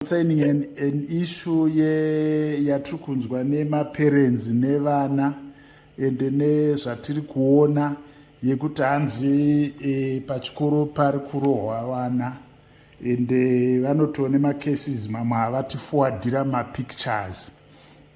concerning an, an issue ye yatiri kunzwa nemaparents nevana ende nezvatiri kuona yekuti hanzi e, pachikoro pari kurohwa vana ende vanotiwo nemacases mamwe havatifowadira mapictures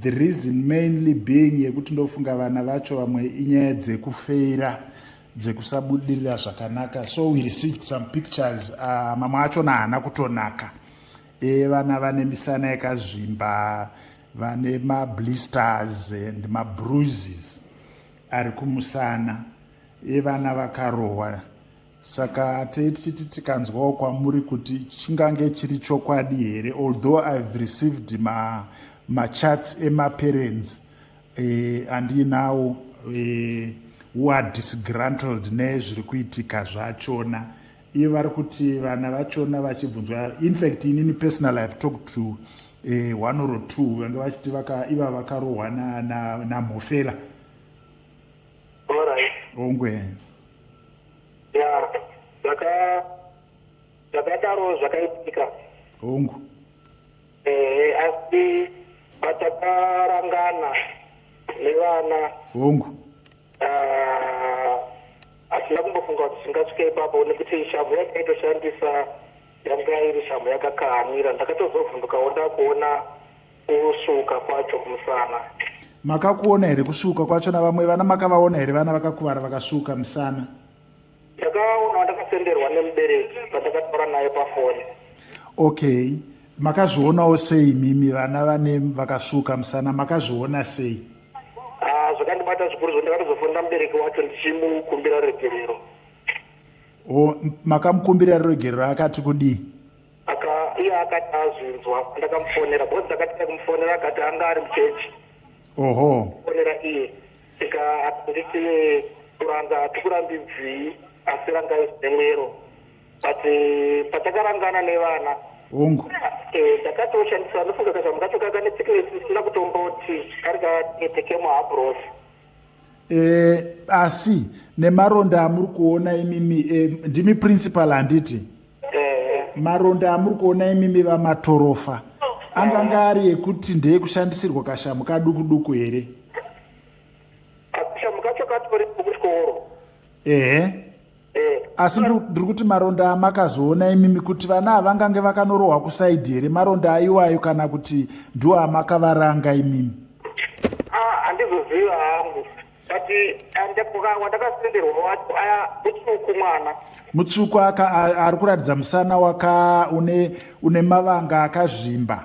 the reason mainly being yekuti ndofunga vana vacho vamwe inyaya dzekufeira dzekusabudirira zvakanaka so we received some pictures uh, mamwe achona haana kutonaka e, vana vane misana yakazvimba vane mablisters and mabruises ari kumusana e, vana vakarohwa saka tei tichiti tikanzwawo kwamuri kuti chingange chiri chokwadi here although ihave received machats ma emaparents eh, andiinawo eh, who are disgrantled nezviri kuitika zvachona iye vari kuti vana vachona vachibvunzwa infact inini personal ihave talked to eh, one or two vange vachiti iva vakarohwa namhofela na, na Alright. Ongwe. Yeah. Zaka zvakadaro zvakaitika. Hongu. Eh, asi patakarangana nevana. Hongu. Ah, asina kumbofunga kuti zvingasvika ipapo nekuti shamhu yakaitoshandisa yanga iri shamhu yakakamira ndakatozovhundukawo ndakuona Kusvuuka kwacho kumusana. Makakuona here kusvuuka kwacho navamwe vana makavaona here vana vakakuvara vakasvuuka musana? Ndakaona ndakasenderwa nemubereki pandakataura naye pafoni. Okay. Makazvionawo sei mimi vana vane vakasvuuka musana makazviona sei? Ah, zvakandibata zvikuru zvo ndakatozofonera mubereki wacho ndichimukumbira ruregerero. O makamukumbira ruregerero akati kudii? aka iye akati azvinzwa ndakamufonera because ndakati ndakumufonera akati anga ari muchechi oho fonera iye tika nditi kuranga tikurambidzii asi rangai zvine mwero but eh, patakarangana nevana ongu eh, ndakatoshandisa ndofunga kazvamu kacho kaka nesickness isina kutomboti kari katekemo habros eh, asi nemaronda amuri kuona imimi eh, ndimi principal handiti eh. maronda amuri kuona imimi vamatorofa anganga ari ekuti ndeekushandisirwa kashamu kaduku duku here kashamu kacho katori kuchikoro ehe eh. asi ndiri kuti maronda amakazoona imimi kuti vana havangange vakanorohwa kusaidhi here maronda aiwayo kana kuti ndiwo amakavaranga imimi ah, handizoziva hangu but eh, wandakasenderwa wacho aya mutsvuku mwana mutsvuku aka ari kuratidza musana waka une mavanga akazvimba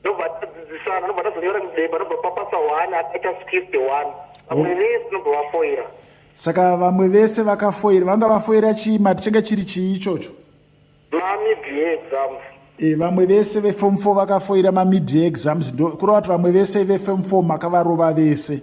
ndobva tadzidzisana ndobva tazonyora mudeba ndobva papasa one akaita script one vamwe oh. vese ndobva vafoira saka vamwe vese vakafoira vanga vafoira chii mati changa chiri chii ichocho mamidia exams e vamwe vese vefom four vakafoira mamidia exams kureva kuti vamwe vese vefom four makavarova vese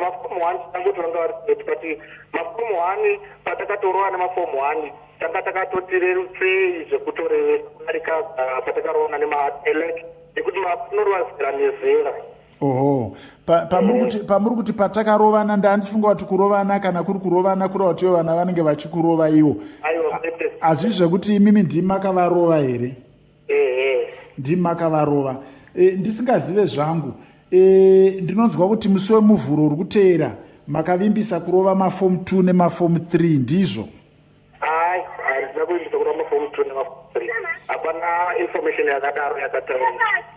mafomu one tangoti vanga vari kuretu but mafomu one patakatorowa nemafomu one tanga takatotirerusei zvekutorevesa kudarika ah, patakaroona nemaelec nekuti manorwazira nezera oho pamuri kuti patakarovana ndandifunga kuti kurovana kana kuri kurovana kureva kuti ivo vana vanenge vachikurova ivo hazvizvi zvekuti imimi ndimi makavarova here ndimi makavarova e, ndisingazive zvangu e, ndinonzwa kuti musi wemuvhuro uri kuteera makavimbisa kurova mafomu 2 nemafomu 3 ndizvo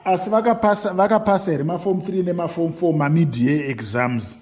asi vakapasa here mafomu 3 nemafomu 4 mamidia exams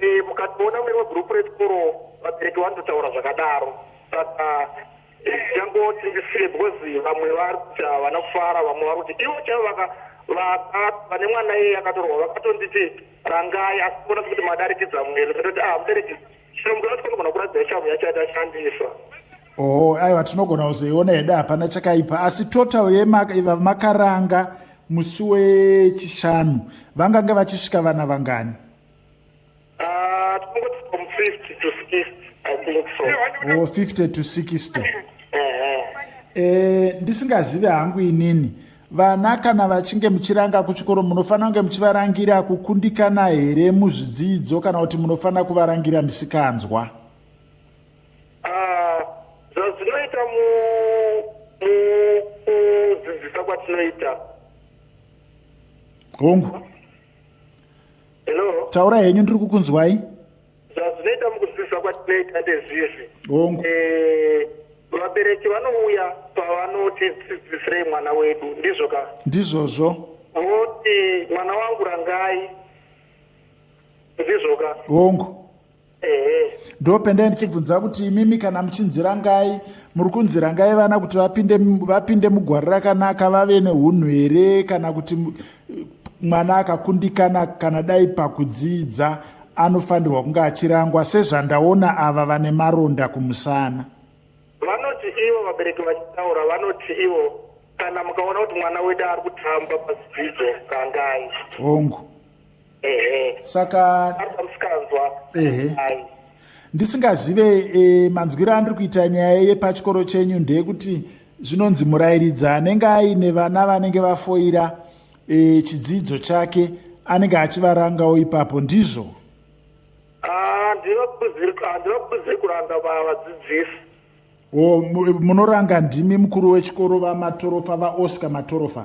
eh, mukatoona mune wegroup rechikoro vabereki vanototaura zvakadaro saka changoti ndisiye because vamwe vari kuti havana kufara vamwe vari kuti ivo chavo vaka vane mwana iye akatorwa vakatonditi rangai asi kuona kuti madarikidza mwere vatoti ah mudarikidza chinomuka vati kunogona kuratidza chavo yacho yatashandisa oo oh, aiwa tinogona kuzoiona hedu hapana chakaipa asi total yemakaranga musi wechishanu vangange vachisvika vana vangani ah, o 50 to 60 eh, ndisingazivi hangu inini vana kana vachinge muchiranga kuchikoro munofanira kunge muchivarangira kukundikana here muzvidzidzo kana kuti munofanira kuvarangira misikanzwa Ah, zvazvinoita mukudzidzisa kwatinoita hongu hello taura henyu ndiri kukunzwai zvazvinoita mukudzidzisa kwatinoita ndezvizvi hongu eh, vabereki vanouya pavanotidzidzisirei mwana wedu ndizvo ka ndizvozvo voti mwana wangu rangai ndizvo ka hongu ndo pendai ndichibvunza kuti imimi kana muchinzirangai muri kunzirangai vana kuti vapinde vapinde mugwari rakanaka vave neunhu here kana kuti mwana akakundikana kana dai pakudzidza anofanirwa kunge achirangwa sezvandaona ava vane maronda kumusana vanoti ivo vabereki vachitaura vanoti ivo kana mukaona kuti mwana wedu ari kutamba pazidzidzo kangai hongu saka ndisingazive e, manzwiro andiri kuita nyaya yepachikoro chenyu ndeyekuti zvinonzi murayiridzi anenge aine vana vanenge vafoira e, chidzidzo chake anenge achivarangawo ipapo ndizvo handivakuziri kuranga vadzidzisi munoranga ndimi mukuru wechikoro vamatorofa vaoscar matorofa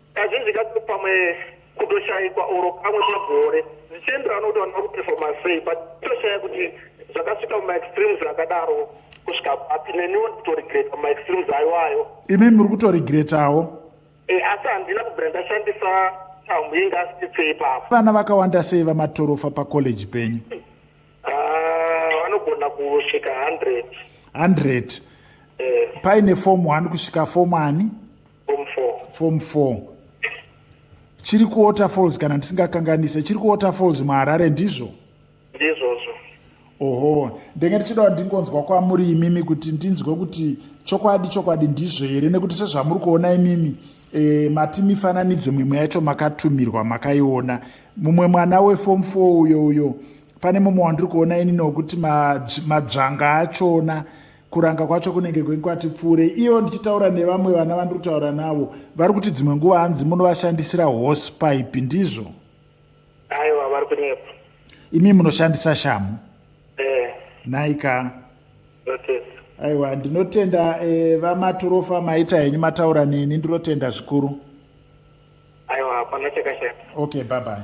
Kazhinji kacho pamwe kutoshaikwa oro kamwe pagore zvichienderana kuti vanhu vakupefoma sei but toshaya kuti zvakasvika mumaextremes akadaro kusvika papi neniwo ndikutoregreta mumaextremes ayo ayo imi muri kutoregretawo e, asi handina kubvira ndashandisa tambo inga asititsei pavo vana vakawanda sei vamatorofa pacollege penyu Ah, vanogona kusvika 100 100 eh, paine fomu wani kusvika fomu ani form four fomu 4 chiri kuwaterfalls kana ndisingakanganise chiri kuwaterfalls muharare ndizvo ndizvozvo oho ndenge ndichidawo ndingonzwa kwamuri imimi kuti ndinzwe kuti chokwadi chokwadi ndizvo here nekuti sezvamuri kuona imimi E, mati mifananidzo mimwe yacho makatumirwa makaiona mumwe mwana wefom f uyo uyo pane mumwe wandiri kuona inini wekuti madzvanga achona kuranga kwacho kunenge kwenkwati pfuure iyo ndichitaura nevamwe vana vandiri kutaura navo vari kuti dzimwe nguva hanzi munovashandisira horse pipe ndizvo aiwa vari kunyepa imi munoshandisa shamu eh. nhaika aiwa ndinotenda eh, vamaturofa maita henyu mataura neni ndinotenda zvikuru aiwa hapana chakashata okay bye bye